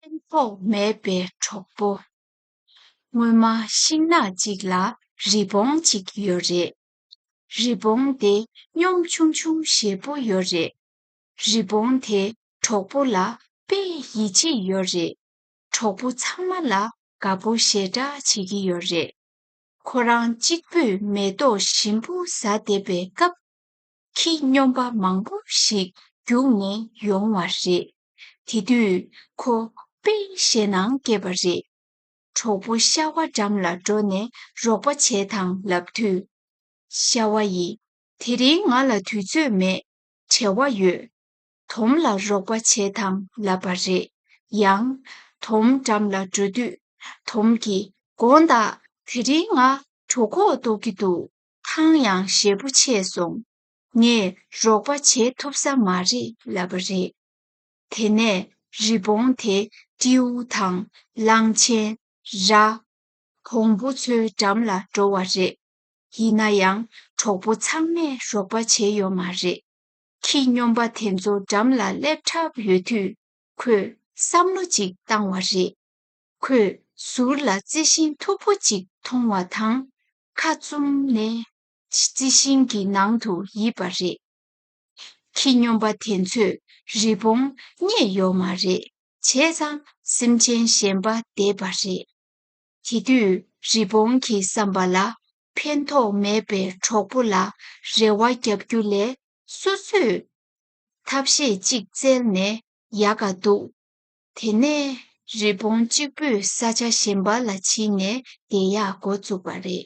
ཕན་ཐོགས་མེད་པའི་གྲོགས་པོ། སྔོན་མ་ཤིང་ནགས་གཅིག་ལ་རི་བོང་གཅིག་ཡོད་རེད། རི་བོང་དེ་གཉོམ་ཆུང་ཆུང་ཞེ་པོ་ཡོད་རེད། རི་བོང་དེ་གྲོགས་པོ་ལ་དཔེ་ཡིད་ཆེས་ཡོད་རེད། གྲོགས་པོ་ཚང་མ་ལ་དགའ་པོ་ཞེ་དྲག་བྱེད་ཀྱི་ཡོད་རེད། ཁོ་རང་གཅིག་པུས་མེ་ཏོག་ཞིམ་པོ་ཟ་བསྡད་པའི་སྐབས། ཁྱི་སྨྱོན་པ་མང་པོ་ཞིག་རྒྱུགས་ནས་ཡོང་བ་རེད། དེ་དུས་ཁོ་དཔེ་ཞེ་ནང་སྐྱེས་པ་རེད། གྲོགས་པོ་ཤྭ་བ་འགྲམ་ལ་འགྲོ་ནས་རོགས་པ་བྱེད་དང་ལབ་དུས། ཤྭ་བ་ཡིས། དེ་རིང་ང་ལ་དུས་ཚོད་མེད། བྲེལ་བ་ཡོད། དོམ་ལ་རོགས་པ་བྱེད་དང་ལབ་པ་རེད་ཡང། དོམ་འགྲམ་ལ་འགྲོ་དུས། དོམ་གྱིས། དགོངས་དག་དེ་རིང་ང་གྲོ་ཁོག་བཏོག་གི་འདུག་ཐང་ཡང་ཞེ་པོ་ཆད་སོང། ངས་རོགས་པ་བྱེད་ཐུབ་ས་མ་རེད་ལབ་པ་རེད། དེ་ནས་རི་བོང་དེ་ཀྲིའུ་ཐང་གླང་ཆེན་ར་བོང་བུ་ཚོའི་འགྲམ་ལ་འགྲོ་བ་རེད། ཡིན་ན་ཡང་གྲོགས་པོ་ཚང་མས་རོགས་པ་བྱེད་ཡོད་མ་རེད། ཁྱི་སྨྱོན་པ་དེ་ཚོ་འགྲམ་ལ་སླེབས་གྲབས་ཡོད་དུས་ཁོས་བསམ་བློ་ཅིག་བཏང་བ་རེད། ཁོས་ཟུར་ལ་རྩི་ཤིང་མཐུག་པོ་ཅིག་མཐོང་བ་དང། ཁ་བཙུམ་ནས། རྩི་ཤིང་གི་ནང་དུ་ཡིབ་པ་རེད། ཁྱི་སྨྱོན་པ་དེ་ཚོས་རི་བོང་རྙེད་ཡོད་མ་རེད་བྱས་ཙང་སེམས་ཅན་གཞན་པ་བསྡད་པ་རེད། དེ་དུས་རི་བོང་གི་བསམ་པ་ལ་ཕན་ཐོགས་མེད་པའི་གྲོགས་པོ་ལ་རེ་བ་བརྒྱབ་རྒྱུ་ལས་སོ་སོས་ཐབས་ཤེས་གཅིག་བཙལ་ནས་ཡག་ག་འདུག་དེ་ནས་རི་བོང་གཅིག་པུས་ས་ཆ་གཞན་པ་ལ་ཕྱིན་ནས་དེ་ཡག་འགོ་བཙུགས་པ་རེད།